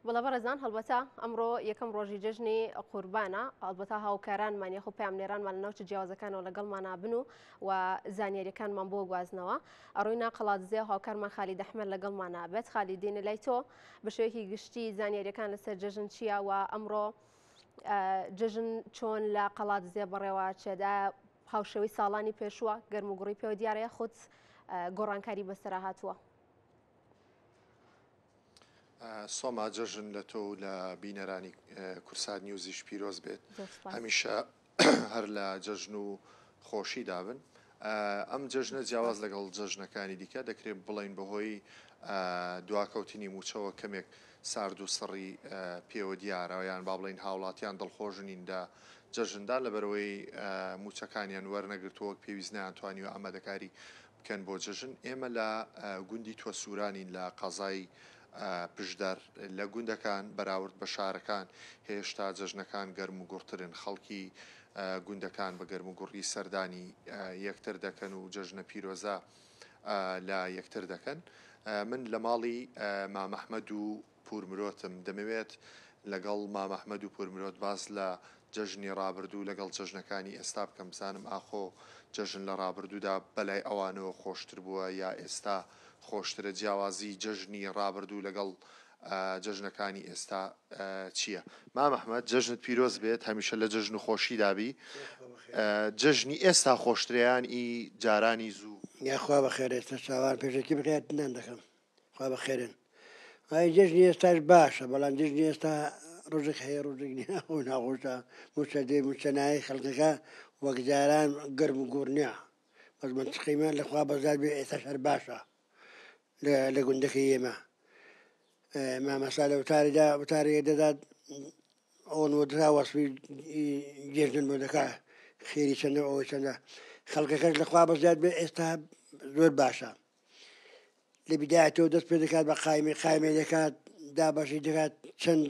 وەڵا بەڕێزان هەڵبەتە ئەمڕۆ یەکەم ڕۆژی جژنی قوربانە ئەڵبەتا هاوکارانمان یەخۆ پامنێرانمان لە ناوچە جیاوازەکانەوە لەگەڵمانە بن و و زانیاریەکانمان بۆ گوازنەوە ئەڕووی ناقەڵاتزێ هاوکارمان خالی دەحمەر لەگەڵمانە بێت خالی دینە لای تۆ بە شێوەیەکی گشتی زانیاریەکان لەسەر جژن چییە و ئەمڕۆ جژن چۆن لە قەڵات زێ بەڕێوە چێدا هاوشەوەی ساڵانی پێشووە گەرم و گوڕی پێوە دیارەیە خودت گۆڕانکاری بەسرە هاتووە. سۆما جەژن لە تۆ و لە بینەرانی کورسات نیوزیش پیرۆز بێت هەمیشە هەر لە جەژن و خۆشی دابن ئەم جەژنە جیاواز لەگەڵ جەژنەکانی دیکە دەکرێت بڵین بەهۆی دواکەوتنی موچەوە کەمێک سارد و سڕی پێوە دیارەوە یان با بڵین هاوڵاتیان دڵخۆژنین لە جەژندا لەبەرەوەی موچەکانیان وەرنەگرتووەک پێویست نیان توانی و ئامادەکاری کەن بۆ جەژن ئێمە لە گوندی توە سورانین لە قەزای پشدەر لە گوندەکان بەراورد بە شارەکان هێشتا جەژنەکان گەرم و گوڕترن خەڵکی گوندەکان بە گەرم و گوڕی سەردانی یەکتر دەکەن و جەژنە پیرۆزە لە یەکتر دەکەن من لە ماڵی مامەحمەد و پوور مرۆتم دەمەوێت لەگەڵ مام احمد و پوور مرۆت باس لە جەژنی ڕابردوو لەگەڵ جەژنەکانی ئێستا بکەم بزانم ئاخۆ جەژن لە ڕابردوودا بەلای ئەوانەوە خۆشتر بووە یا ئێستا خۆشترە جیاوازی جەژنی ڕابردوو لەگەڵ جەژنەکانی ئێستا چییە مام احمد جەژنت پیرۆز بێت هەمیشە لە جەژن و خۆشی دابی جەژنی ئێستا خۆشتریان ئی جارانی زوو یاخوا بەخێرێتە چاوان پێشێکی بکات نان دەکەم خوا بەخێرن ئای جەژنی ئێستاش باشە بەڵام جژنی ئێستا ڕژک هەیە ڕژک ئەو ناخۆشە موچە دێ موچە نایە خەڵکەکە وەک جاران گەرم و گۆرنیا بەس من تقیمە لەخوا بەزار بێ ئێستا هەر باشە لە گوندەکە ئێمە مامەسا لە وتاریدا وتارێ دەدات ئەوەن وەدرا وەسفی جێژن بۆ دەکا خێری چەندە ئەوە چەندە خەڵکەکەش لەخوا بەزیاد بێ ئێستا زۆر باشە لە بدایەتەوە دەست پێ دەکات بە قایمی قایمێ دەکات دابەشی دەکات چەند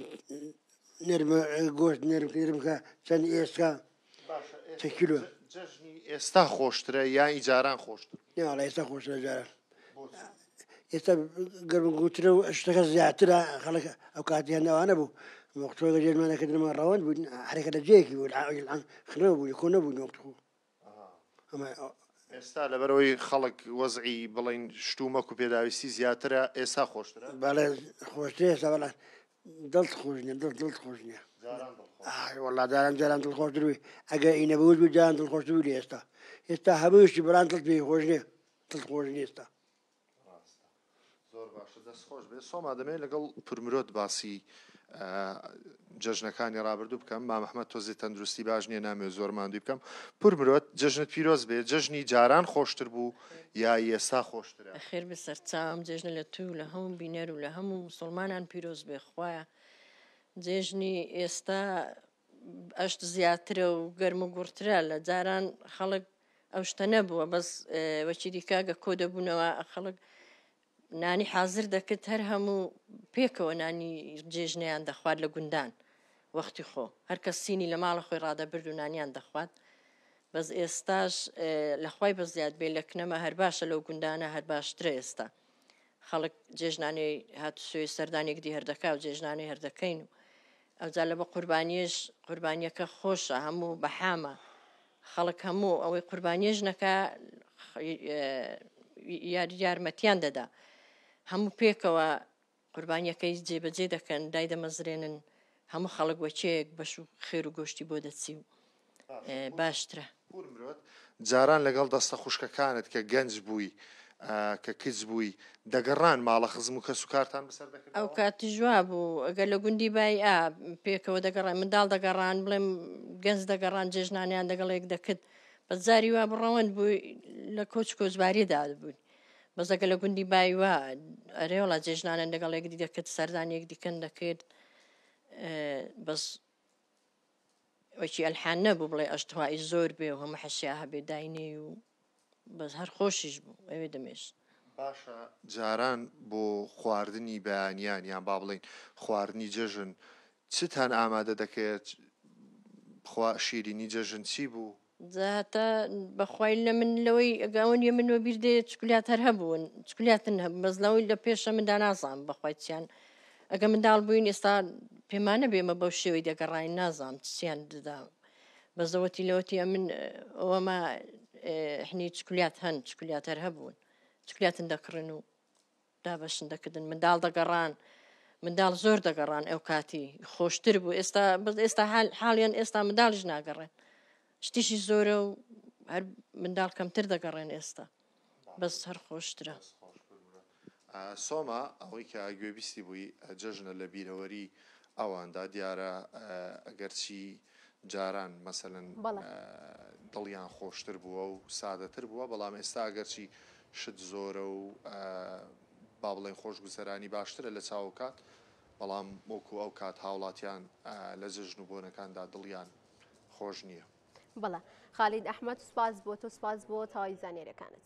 نرمە گۆشت نرم نرمکە چەند ئێستا چە کیلو ئێستا خۆشترە یا ئیجاران خۆشتر ناڵ ئێستا خۆشە جارە ئێستا گەرم گوترە و شتەکە زیاترە خەڵک ئەو کاتیان ناوانە بوو مختۆگە جێمانەکردنەوە ڕەوەند بوون حرەکە لە جێکی بوو خرە بوو کۆ نەبوو نۆخت بوو ئێستا لەبەرەوەی خەڵک وەزعی بڵێن شتومەک و پێداویستی زیاترە ئێستا خۆشترە بەڵێ خۆشتر ئێستا بەڵێ دڵت خۆش نیە دڵ دڵت خۆش نیە وڵا داران جاران دڵ خۆش دروی ئەگە ئی نەبوو بوو جان دڵ خۆش بوو لە ئێستا ئێستا هەمووشتی بەڵام دڵ پێی خۆش نیە دڵ خۆش ئێستا ڕاستە زۆر باشە دەست خۆش بێت سۆما دەمەوێت لەگەڵ پورمرۆت باسی جەژنەکانی ڕابردوو بکەم مامەحمە تۆزی تەندروستی باش نییە نامێ زۆر مادوی بکەم پورمرۆت جژنت پیرۆز بێ جژنی جاران خۆشتر بوو یا ئێستا خۆشتر خێر بە سەرچاوم جێژنە لە تو لە هەموو بینەر و لە هەموو مسلمانان پیرۆز بێ خوایە جێژنی ئێستا ئەشت زیاترە و گەرم و گوڕترە لە جاران خەڵک ئەو شتە نەبووە بەس وەچیدیکە گە کۆ دەبوونەوە خەڵک نانی حاضر دەکرد هەر هەموو پێکەوە نانی جێژنیان دەخوارد لە گوندان وەختی خۆ هەرکە سینی لە ماڵە خۆی ڕادەبرد و نانیان دەخوات بەس ئێستاش لەخوای بە زیاد بێ لە کنەمە هەر باشە لەو گوندانە هەر باشترە ئێستا خەڵک جێژنانەی هاتوسوێ سەردانێک دی هەردەکا و جێژنانەی هەردەکەین و ئەوجا لەبە قوربانیەش قوربانیەکە خۆشە هەموو بەحامە خەڵک هەموو ئەوەی قوربانیەش نەکە یارمەتیان دەدا هەموو پێکەوە قوربانیەکەی جێبەجێ دەکەن دای دەمەزرێنن هەموو خەڵک وەچەیەک بەش و خێر و گۆشتی بۆ دەچی و باشترە. پور مرۆت جاران لەگەڵ دەستە خوشکەکانت کە گەنج بووی کە کچ بووی دەگەڕان ماڵە خزم و کەس و کارتان بەسەر دەکردەوە؟ ئەو کات جوا بوو گەر لە گوندی بای ئا پێکەوە دەگەڕای منداڵ دەگەڕان بڵێم گەنج دەگەڕان جێژنانیان دەگەڵ یەک دەکرد بەس جاری وا بڕەوەند بوو لە کۆچ کۆچباری دابووین بەس ئەگە لە گوندی بای وا ئەرێ وڵا جێژنانیان دەگەڵ یەکدی دەکرد سەردان یەکدیکەن دەکرد بەس وەکی ئەلحان نەبوو بڵێ ئەشت هوایی زۆر بێ و هەموو حەسیا هەبێ داینێی و بەس هەر خۆشیش بوو ئەوێ دەمێشت. باشە جاران بۆ خواردنی بەیانیان یان با بڵێین خواردنی جەژن چتان ئامادە دەکرد؟ خوا شیرینی جەژن چی بوو؟ جا هەتا بەخوای اللە من لەوەی ئەگا ئەوە نیە من وەبیر دێ چکلیات هەر هەبوون چکلیاتن هەبوو بەس لەوەی لە پێشە من دانازانم بەخوای چیان ئەگە منداڵ بووین ئێستا پێمانە بێمە بەو شێوەی دەگەڕین نازانم چیان ددا بەزەوەتی لەوەتی ئەمن ئەوەما حنی چکلیات هەن چکلیات هەر هەبوون چکلیاتن دەکڕن و دابەشن دەکردن منداڵ دەگەڕان منداڵ زۆر دەگەڕان ئەو کاتی خۆشتر بوو ئێستا بەس ئێستا حاڵیان ئێستا منداڵش ناگەڕێن شتیشی زۆرە و هەر منداڵ کەمتر دەگەڕێن ئێستا بەس هەر خۆشترە سۆما ئەوەی کە گوێبیستی بووی جەژنە لە بیرەوەری ئەواندا دیارە ئەگەرچی جاران مەسەلەن دڵیان خۆشتر بووە و سادەتر بووە، بەڵام ئێستا ئەگەرچی شت زۆرە و با بڵێین خۆشگوزەرانی باشترە لە چاو ئەوکات، بەڵام وەکو ئەو کات هاوڵاتیان لە جەژن و بۆنەکاندا دڵیان خۆش نییە. بەڵێ خالید ئەحمەد سوپاس بۆ تۆ سوپاس بۆ تەواوی زانیاریەکانت.